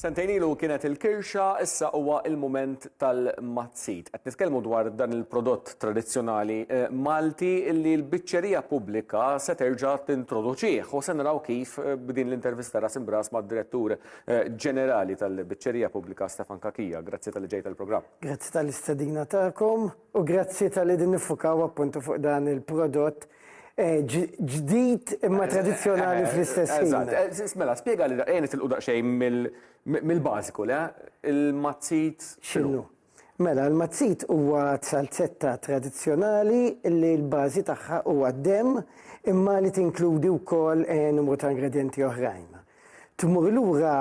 Sentejn ilu kienet il-kirxa, issa huwa l-mument tal-mazzit. Qed nitkellmu dwar dan il-prodott tradizzjonali Malti li l-biċċerija pubblika se terġa' tintroduċih u se naraw kif b'din l-intervista ras imb'ras mad-Direttur Ġenerali tal-Biċċerija Pubblika Stefan Cachia. Grazzi talli ġejt għall-programm. Grazzi tal-istedina tagħkom u grazzi talli qegħdin niffukaw appuntu fuq dan il-prodott Eh, ġdid imma eh, tradizjonali eh, fl-istess ħin. Mela, spiega li daqqa nitilqu daqsxejn mill-bażiku, le? Il-mazzit xinu? Mela, l-mazzit huwa salzetta tradizjonali li l-bażi tagħha huwa dem imma li tinkludi wkoll numru ta' ingredienti oħrajn. Tmur lura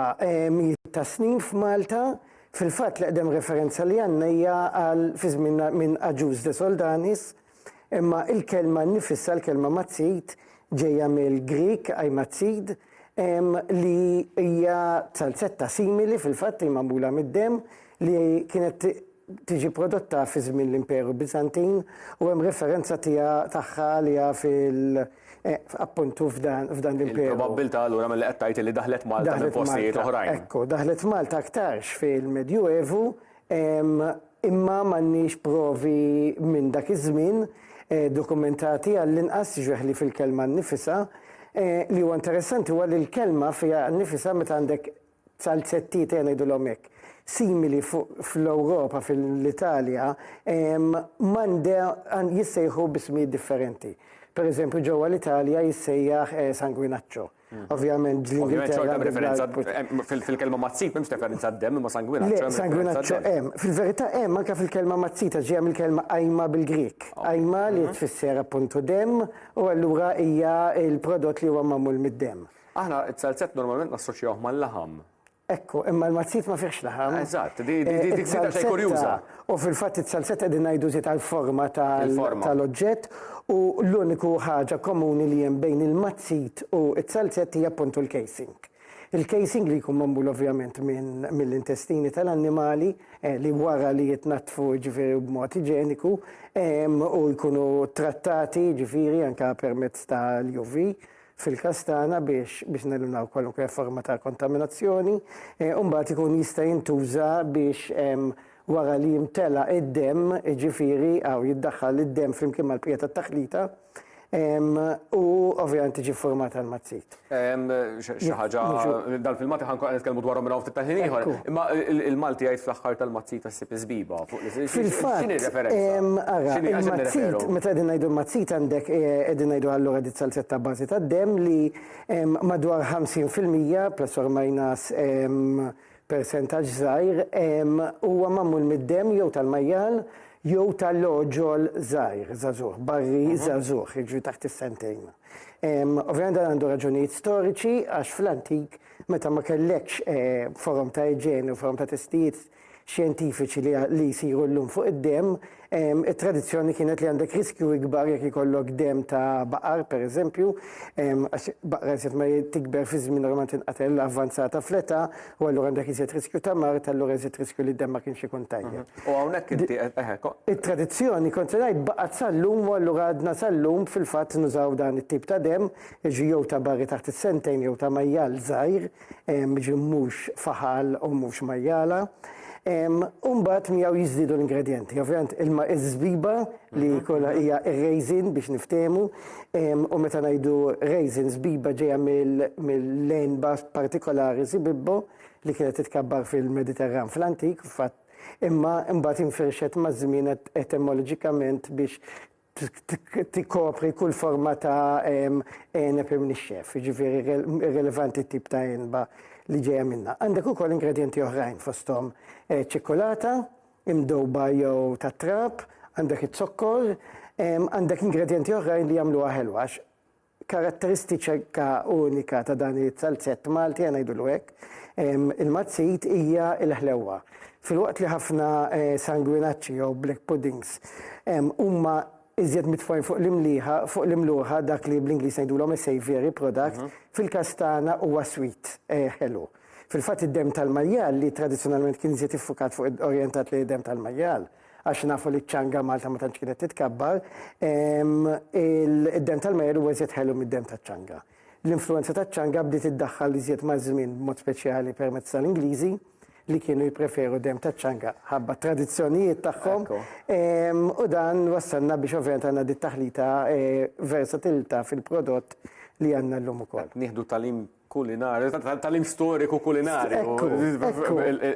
mijiet ta' snin f'Malta fil-fatt li qdem referenza li għandna hija għal fi żmien minn Aġuż de Soldanis Imma il-kelma nnifisha, l-kelma mazzid, ġejja mill-Grieg aimatzid, li hija salzetta simili fil-fatt li magħmula mid-demm li kienet tiġi prodotta fi żmien l-Imperu Biżantin u hemm referenza tiegħha tagħha għaliha fil- Eh, appuntu f'dan l-imperu. Probabbilta allura mill qed tgħid li daħlet Malta minn postijiet oħrajn. Ekku, daħlet Malta aktarx fil-Medju Evu imma m'għandniex provi minn dak iż-żmien dokumentati għall-inqas, jiġrih li fil-kelma nnifisha. Li huwa interessanti huwa li l-kelma fiha nnifisha meta għandek salzettiet ejja ngħidulhom hekk, simili fl-Ewropa, fil-Italja, m'għandha jissejħu b'ismijiet differenti. Pereżempju ġewwa l-Italja jissejjaħ sanguinaccio. Ovvjament l-Ingilterra. Ovvjament xorta b'referenza eh, fil-kelma mazzit m'hemmx referenza d-dem imma sanguinaċċo. Le, sanguinaċċo hemm. Fil-verità hemm anke fil-kelma mazzita ġejja mill-kelma ajma bil-Grik. Ajma li mhm. tfisser appuntu dem u allura hija il-prodott li huwa magħmul mid-dem. Aħna t-salzett normalment nassoċjawh mal-laħam. Ekku, imma l-mazzit ma fihx laħam. Eżatt, di daqsxejn kurjuża. U fil-fatt it-salzetta qegħdin ngħidu żied għall-forma tal-oġġett u l-uniku ħaġa komuni li hemm bejn il-mazzit u t-salzett hija appuntu l-casing. Il-casing li jkun magħmul ovvjament mill-intestini tal-annimali li wara li jitnaddfu ġifieri b'mod iġeniku u jkunu trattati ġifieri anke permezz tal-UV fil-każ tagħna biex biex neliminaw kwalunkwe forma ta' kontaminazzjoni, u mbagħad ikun jista' jintuża biex wara li jimtela id-demm, jiġifieri hawn jiddaħħal id-demm flimkien mal-bqija tat-taħlita, u ovvjament tiġi ffurmata l-mazzit. Xi ħaġa, dan fil-Malti ħa nkunu qed nitkellmu dwarhom minn hawn ftit tal-ħin ieħor, imma il-Malti jgħid fl-aħħar tal-mazzita, Sib is-sbiba fuq l-isem. Fil-fatt. X'inhi r-referenza? Ara, il-mazzit, meta qegħdin ngħidu l-mazzit għandek qegħdin ngħidu allura di salzetta bażi tad-demm li madwar 50% plus or minus persentaġġ żgħir huwa magħmul mid-demm jew tal-majjal jew tal-għoġol żgħir, żagħżugħ, barri żagħżugħ, jiġri taħt is-sentejn. Ovvjament dan għandu raġunijiet storiċi għax fl-antik meta ma kellekx forom ta' iġene u forom ta' testijiet, xjentifiċi li jsiru llum fuq id-demm, it-tradizzjoni kienet li għandek riskju ikbar jekk ikollok demm ta' baqar, pereżempju, għax baqra iżjed ma tikber fi żmien normalment tinqatel avvanzata fl-età u allura għandek iżjed riskju ta' mard, allura iżjed riskju li d-demm ma kienx ikun tajjeb. U hawnhekk inti qed, eħe. It-tradizzjoni, kont se ngħid, baqgħet sal-lum u allura għadna sal-lum fil-fatt nużaw dan it-tip ta' demm, jiġri jew ta' barri taħt is-sentejn jew ta' majjal żgħir, ġi mhux faħal u mhux majjala. Umbat miegħu jiżdiedu l-ingredienti. Ovvjament ilma iż-żbiba li mhm. kollha hija raisin biex niftehmu u meta ngħidu raisin żbiba ġejja mill-lenba partikolari sibibbo li kienet titkabbar fil-Mediterran fl-antik, fatt imma imbagħad infirxet maż-żmien etemoloġikament biex tikkopri kull forma ta' għeneb imnixxef, jiġifieri irrelevanti t-tip ta' għenba li ġejja minnha. Għandek ukoll ingredjenti oħrajn fosthom eh, ċikkulata, imdowba jew tat-trab, għandek iż-zokkor, għandek ingredjenti oħrajn li jagħmluha ħelwa Karatteristika unika ta' dan is-salzett Malti, ħa ngħidulu hekk, il-mazzit, hija l-ħlewwa. Filwaqt li ħafna sanguinacci jew black puddings huma iżjed mitfugħin fuq l-imlieħa, fuq l-imluħa, dak li bl-Ingliż ngħidulhom is-savoury product, fil-każ tagħna huwa sweet, ħelu. Fil-fatt id-demm tal-majjal, li tradizzjonalment kien iżjed iffukat fuq, orjentat lejn id-demm tal-majjal, għax nafu li ċanga Malta ma tantx kienet titkabbar, id-dem tal-majer huwa iżjed ħelu mid-dem taċ-ċanga. L-influenza taċ-ċanga bdiet iddaħħal li iżjed maż-żmien b'mod speċjali permezz tal-Ingliżi li kienu jippreferu dem taċ-ċanga ħabba tradizzjonijiet tagħhom. U dan wassalna biex ovvjament għandna dit taħlita e, versatilità fil-prodott li għandna llum ukoll. Nieħdu talim kulinarju, tal-im storiku kulinarju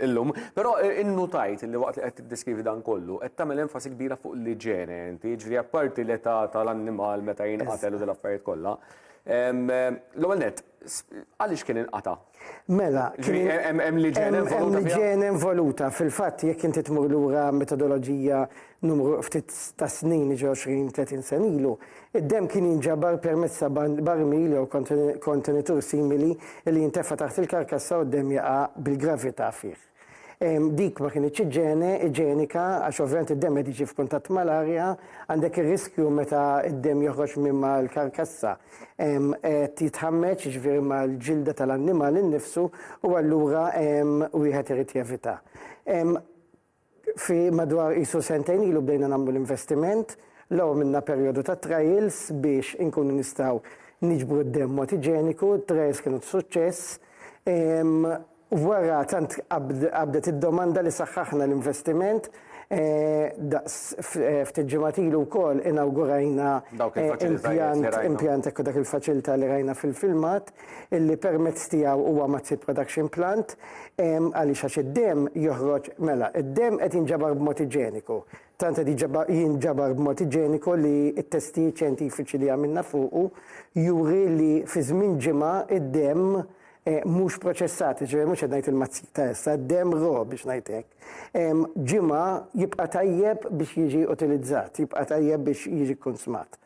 illum. Però eh, innutajt li waqt li qed tiddeskrivi dan kollu, qed tagħmel enfasi kbira fuq l-iġene inti, ġri apparti l-età tal-annimal meta jinqatel u dal-affarijiet kollha. L-ewwel net, għaliex kien inqata? Mela, hemm liġen involuta. Hemm liġen involuta. Fil-fatt, jekk inti tmur lura metodoloġija Numru ftit ta' snin, jiġri għoxrin, tletin sena ilu, id-demm kien jinġabar permezz ta' barmil jew kontenitur simili li jintefa' taħt il-karkassa u d-demm jaqa' bil-gravità fih. Dik ma kinitx iġene, iġenika, għax ovvjament id-demm qed jiġi f'kuntatt mal-arja, għandek ir-riskju meta d-demm joħroġ minn mal-karkassa qed jitħammeġ, jiġifieri mal-ġilda tal-annimal innifsu u allura wieħed irid jevita. Fi madwar qisu sentejn ilu bdejna nagħmlu l-investiment. L-ewwel għamilna perjodu ta' trials biex inkunu nistgħu niġbru d-demm mod iġeniku, t-trials kienu ta' suċċess. Wara tant qabdet id-domanda li saħħaħna l-investiment. Daqs ftit ġimgħat ilu wkoll inawgurajna impjant, impjant, ekku dak il-faċilità li rajna fil-filmat. illi permezz tiegħu huwa Mazzit Production Plant, ehm, għaliex għax id-demm joħroġ, mela, id-demm qed jinġabar b'mod iġeniku. Tant qed jinġabar b'mod iġeniku li t-testijiet xjentifiċi li għamilna fuqu juri li fi żmien ġimgħa id-demm eh, mhux proċessat, ġifieri mhux qed ngħid il-mazzit ta' issa, d-demm ro biex ngħid hekk. Ehm, ġimgħa jibqa' tajjeb biex jiġi utilizzat, jibqa' tajjeb biex jiġi konsmat.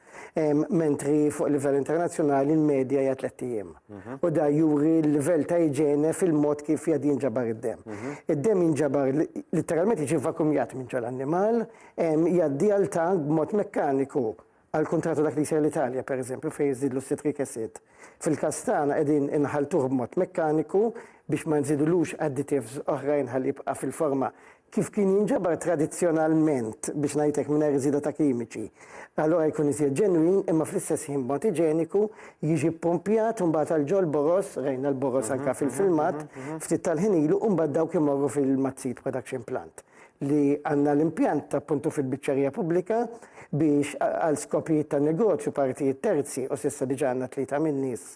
mentri fuq livell internazzjonali l-medja hija tliet ijiem. Mhm. U da juri l-livell ta' iġene fil-mod kif jgħad jinġabar id-dem. Mhm. Id-dem jinġabar literalment jiġi vakumjat minn ġol annimal, jgħaddi għal tank b'mod mekkaniku għal kontratu dak li jsir l-Italja, per eżempju, fejn jiżidlu citric acid. Fil-każ tagħna qegħdin inħalltuh b'mod mekkaniku biex ma nżidulux additives oħrajn ħalli jibqa' fil-forma kif kien jinġabar tradizzjonalment biex ngħid hekk mingħajr żieda ta' kimiċi. Allura jkun iżjed ġenwin imma fl-istess ħin b'mod iġeniku jiġi ppumpjat u mbagħad għal ġol boroż, rajna l-boroż anke fil-filmat, ftit tal-ħin ilu u mbagħad dawk imorru fil-Mazzit Production Plant. li għandna l-impjant appuntu fil-biċċerija pubblika biex għal skopijiet ta' negozju partijiet terzi u s'issa diġà għandna tlieta min-nies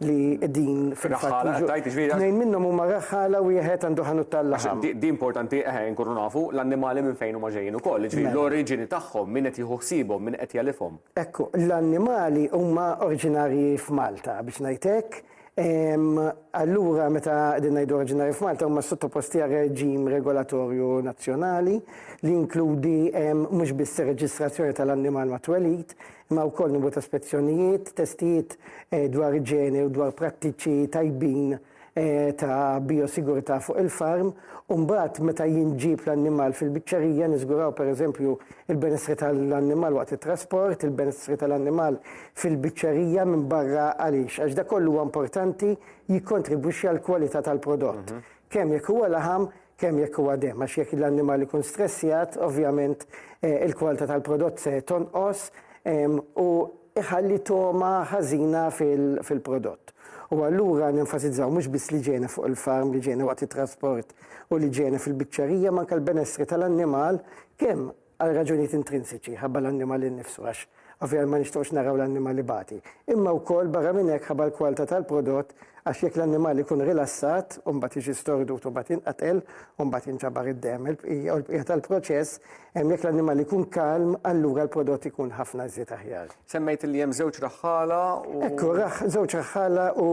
li din fil-fatt. Tnejn minnhom huma raħħala wieħed għandu ħanut tal-laħam. Di importanti eħe nkunu nafu l-annimali minn fejn huma ġejjin ukoll, jiġifieri l-oriġini tagħhom, min qed jieħu ħsiebhom, min qed jegħlifhom. Ekku, l-annimali huma oriġinarji f'Malta biex ngħid hekk. Allura meta qegħdin ngħidu oriġinarji f'Malta huma sottoposti għal reġim regolatorju nazzjonali li jinkludi mhux biss ir-reġistrazzjoni tal-annimal mat-twelid, imma wkoll numru ta' spezzjonijiet, testijiet eh, dwar iġene u dwar prattiċi tajbin Eh, ta' biosigurta fuq il-farm, umbat meta jinġib l-annimal fil-biċċerija, nizguraw per eżempju il-benessri tal-annimal waqt il-trasport, il-benessri tal-annimal fil-biċċerija minn barra għaliex? Għax dak kollu huwa importanti jikkontribwixxi għall-kwalità tal-prodott. Kemm jekk huwa laħam, kemm jekk huwa demm. Għax jekk l-annimal ikun stressjat, ovvjament il-kwalità tal-prodott se tonqos u jħalli togħma ħażina fil-prodott. U allura nenfasizzaw mhux biss l-iġene fuq il-farm, l-iġene waqt it-trasport u l-iġene fil-biċċerija, ma anke l-benessri tal-annimal kemm Għal raġunijiet intrinsiċi, ħabba l-annimal innifsu, għax ovvjament ma nixtiequx naraw l-annimal ibati, imma wkoll barra minn hekk ħabba l-kwalta tal-prodott għax jekk l-annimal ikun rilassat u mbagħad jiġi stordut u mbagħad jinqatel u mbagħad jinġabar id-demm il-bqija u l-bqija tal-proċess, hemm jekk l-annimal ikun kalm allura l-prodott ikun ħafna iżjed aħjar. Semmejt li hemm żewġ raħħala u. Ekku, żewġ raħħala u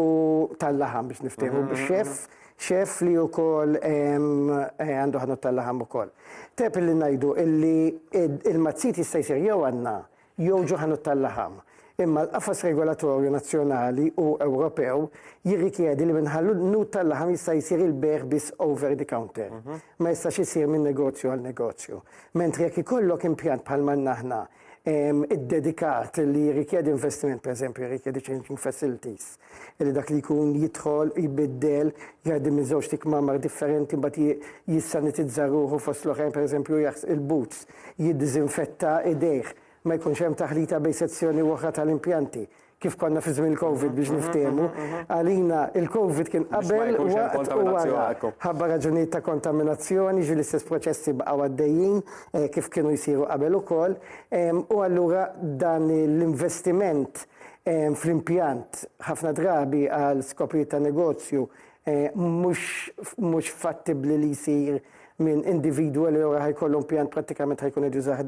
tal-laħam biex niftehmu, chef Xef li ukoll għandu ħanut tal-laħam ukoll. Tep li ngħidu illi il-mazzit jista' jsir jew għandna jew ġo ħanut tal-laħam. Imma l-qafas regolatorju nazzjonali u Ewropew jirrikjedi li minħallu nut tal-laħam jista' jsir il-bejgħ biss over the counter. Ma jistax isir minn negozju għal negozju. Mentri jekk ikollok impjant bħal m'għandna aħna iddedikat li jirrikjedi investiment, pereżempju jirrikjedi changing facilities, li dak li jkun jidħol, jbiddel, jgħaddi minn żewġt ikmamar differenti mbagħad jissanitizza ruħu fost l-oħrajn pereżempju jaħsel il-boots, jiddiżinfetta idejh, ma jkunx hemm taħlita bejn sezzjoni u oħra tal-impjanti, kif konna fi żmien il-Covid biex niftehmu. Għalina il-Covid kien qabel, waqt u wara. Ħabba raġunijiet ta' kontaminazzjoni, ġieli l-istess proċessi baqgħu għaddejjin kif kienu jsiru qabel ukoll. U allura dan l-investiment fl-impjant ħafna drabi għal skopijiet ta' negozju mhux fattibbli li jsir minn individwu li ora ħajkollu impjant prattikament ħajkun qed jużah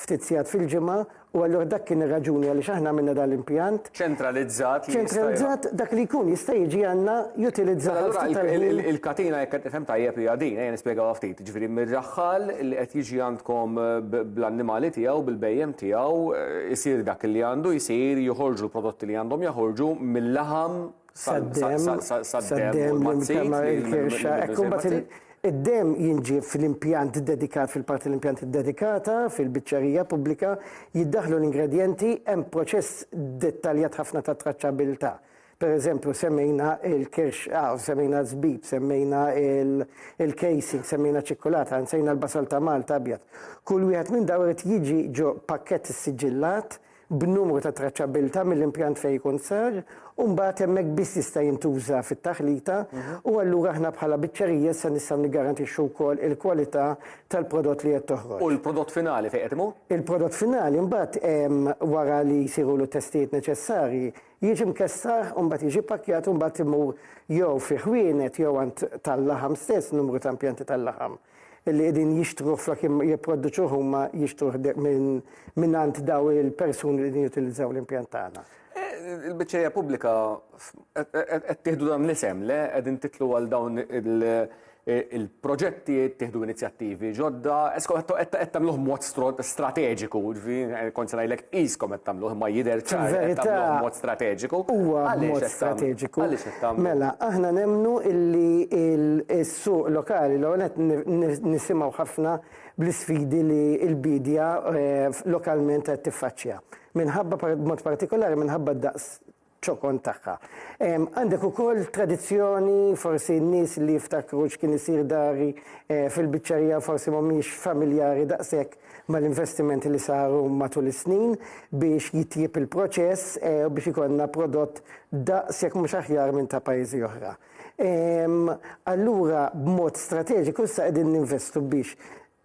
ftit sigħat fil-ġimgħa u allura dak kien ir-raġuni għaliex aħna għamilna dan l-impjant. Ċentralizzat. Ċentralizzat dak li jkun jista' jiġi għandna jutilizzah. Allura il-katina jekk qed nifhem tajjeb hija din, ejja nispjegawha ftit. jiġifieri mir-raħħal li qed jiġi għandkom bl-annimali tiegħu, bil-bhejjem tiegħu, isir dak li għandu jsir, joħorġu l-prodotti li għandhom jaħorġu mil-laħam sad-demm u l-mazzit. Id-demm jinġieb fl-impjant dedikat, fil-parti tal-impjant iddedikata, fil-biċċerija pubblika, jiddaħħlu l-ingredjenti, hemm proċess dettaljat ħafna ta' traċċabbiltà. Per eżempju, semmejna il-kirx, ah, semmejna żbib, semmejna il-casing, semmejna ċikkulata, nsejna l-basal ta' Malta abjad. Kull wieħed minn dawn irid jiġi ġo pakkett issiġillat b'numru ta' traċċabbiltà mill-impjant fejn ikun sar u mbagħad hemmhekk biss jista' jintuża fit-taħlita mhm. u allura aħna bħala biċċerija se nistgħu niggarantixxu wkoll il-kwalità tal-prodott li qed toħroġ. U l-prodott finali fejn qed imur? Il-prodott finali mbagħad wara li jsiru l testijiet neċessarji Jiġi mkessar u mbagħad jiġi ppakkjat u mbagħad imur jew fi ħwienet jew għand tal-laħam stess, numru ta' impjanti tal-laħam li qegħdin jixtruh flok jipproduċuh huma jixtruh minn għand daw il-persuni li qegħdin jutilizzaw l-impjant tagħna. Il-biċċerija pubblika qed tieħdu dan l-isem, le qegħdin titlu għal dawn il-proġetti, ittieħdu inizjattivi ġodda, eskom qed tagħmluh mod strateġiku, ġifieri kont se ngħidlek qiskom qed tagħmluh imma jidher ċar li qed tagħmluh mod strateġiku. Huwa mod strateġiku. Għaliex qed tagħmluh? Mela, aħna nemmnu li s-suq lokali l-ewwel nett nisimgħu ħafna bl-isfidi li l-biedja lokalment qed tiffaċċja. Minħabba, b'mod partikolari, minħabba d-daqs ċokon tagħha. Għandek ukoll tradizzjoni, forsi n-nies li jiftakru x'kien isir dari fil-biċċerija forsi mhumiex familjari daqshekk mal-investimenti li saru matul is-snin biex jitjieb il-proċess u biex ikollna prodott daqs jekk mhux aħjar minn ta' pajjiżi oħra. Allura b'mod strateġiku issa qegħdin ninvestu biex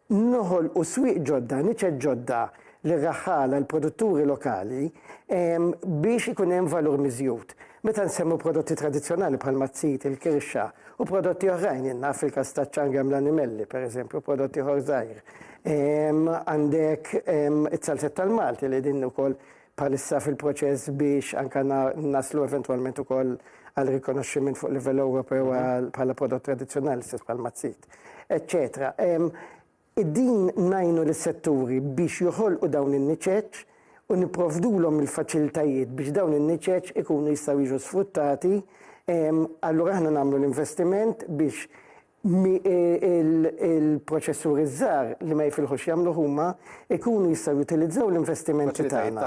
Noħolqu swieq ġodda, niċeċ ġodda lir-raħħala, lill-produtturi lokali, biex ikun hemm valur miżjud. Meta nsemmu prodotti tradizzjonali bħalma t-zit, il-kirxa u prodotti oħrajn, jien naf fil-każ taċ-ċanga hemm l-animelli, pereżempju, prodott ieħor żgħir. Għandek it-salsett tal-Malti li din ukoll bħalissa fil-proċess biex anke naslu eventwalment ukoll għal rikonoxximent fuq livell Ewropew bħala prodott tradizzjonali stess bħal mazzit, eċċetera. Din ngħinu lis-setturi biex joħolqu dawn in-niċeċ u nipprovdulhom il-faċilitajiet biex dawn in-niċeċ ikunu jistgħu jiġu sfruttati. Allura aħna nagħmlu l-investiment biex il-proċessuri ż-żgħar li ma jifilħux jagħmluh huma jkunu jistgħu jutilizzaw l-investimenti tagħna,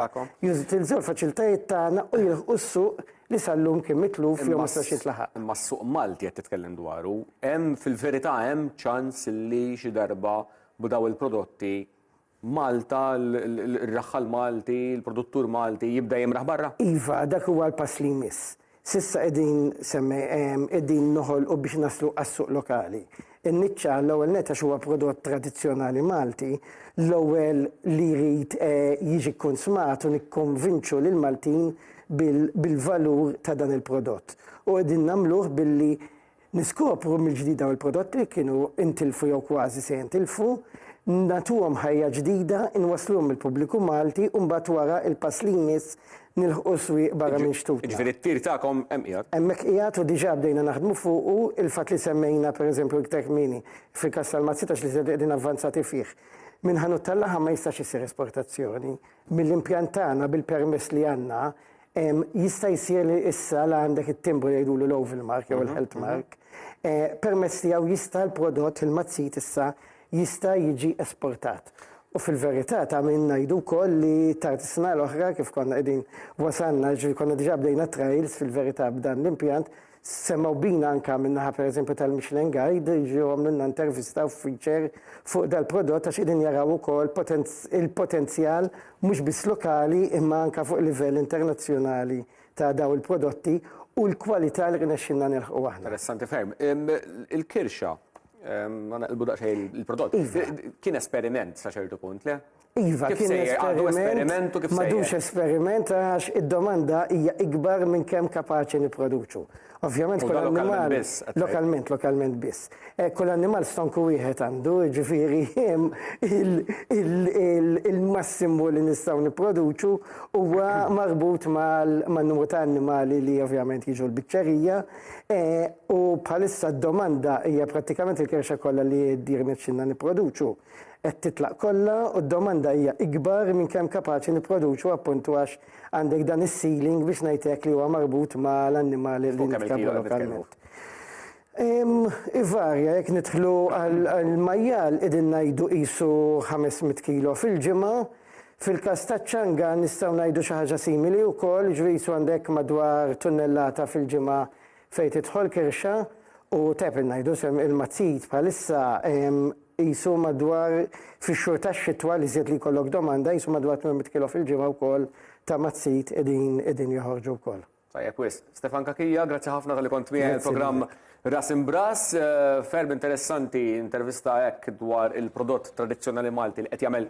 jutilizzaw il-faċilitajiet tagħna u jilħqu s-suq li sal-lum kien mitluf jew ma setax jitlaħaq. Imma s-suq Malti qed titkellem dwaru, hemm fil-verità hemm ċans li xi darba b'dawn il-prodotti Malta, l-raħħal Malti, l-produttur Malti jibda jimraħ barra? Iva, dak huwa l-pass li jmiss. S'issa qegħdin semme, qegħdin noħolqu biex naslu għas-suq lokali. In-niċċa, l-ewwel nett għax huwa prodott tradizzjonali Malti, l-ewwel li jrid jiġi kkunsmat u nikkonvinċu lill-Maltin bil-valur ta' dan il-prodott. U qegħdin nagħmluh billi Niskopru mill-ġdid dawn il-prodotti li kienu intilfu jew kważi se jintilfu, nagħtuhom ħajja ġdida, inwassluhom mill-pubbliku Malti u mbagħad wara il-pass li jmiss nilħqu s-swieq barra minn xtutna. Jiġifieri t-tir tagħkom hemm qiegħed? Hemmhekk qiegħed u diġà bdejna naħdmu fuqu, il-fatt li semmejna pereżempju iktar kmieni fil-każ tal-Mazzitax li qegħdin avvanzati fih. Minn ħanut tal-laħam ma jistax isir esportazzjoni. Mill-impjant tagħna bil-permess li għandna Jista' jsir li issa la għandek it-timbru jgħidulu l-oval mark jew il-health mhm, mhm. mark. Eh, permezz tiegħu jista' l-prodott fil-mazzit issa jista' jiġi esportat. U fil-verità ta' minn ngħidu wkoll li tard is-sena l-oħra kif konna qegħdin wasalna ġri konna diġà bdejna trials fil-verità b'dan l-impjant Semgħu bina anke min-naħa pereżempju tal-Michelin Guide, jiġu għamlulna intervista u feature fuq dal-prodott għax qegħdin jaraw ukoll il-potenzjal mhux biss lokali imma anke fuq livell internazzjonali ta' dawn il-prodotti u l-kwalità li rnexxilna nilħqu aħna. Interessanti ferm. Il-Kirxa, ħa neqilbu daqsxejn il-prodott, kien esperiment sa ċertu punt, le? Iva, kien esperiment, m'għadux esperiment għax id-domanda hija ikbar minn kemm kapaċi nipproduċu. Ovvjament kull annimal lokalment, lokalment biss. Eh, kull annimal stonku wieħed għandu, ġifieri il-massimu li nistgħu nipproduċu huwa marbut man-numru ta' annimali li ovvjament jiġu l-biċċerija eh, u bħalissa d-domanda hija prattikament il-kerxa kollha li dir nipproduċu. qed titlaq kollha u d-domanda hija ikbar minn kemm kapaċi nipproduċu appuntu għax għandek dan is-ceiling biex ngħid hekk li huwa marbut ma' l-annimali li nitkellmu lokalment. Ivarja jekk nidħlu għall-majjal qegħdin ngħidu qisu 500 kilo fil-ġimgħa. Fil-każ taċ-ċanga nistgħu ngħidu xi ħaġa simili wkoll, jiġifieri qisu għandek madwar tunnellata fil-ġimgħa Fejn tidħol kirxa u teb ngħidu sehem ilma tsid bħalissa qisu madwar fix-xhur tax-xitwa l-iżjed li jkollok domanda qisu madwar 800 kilo fil-ġimgħa wkoll ta' ma' tsid qegħdin joħorġu wkoll. Tajjeb wisq. Stefan Cachia, grazzi ħafna talli kont miegħi għall-programm Ras Imb'Ras. Ferm interessanti intervista hekk dwar il-prodott tradizzjonali Malti li qed jagħmel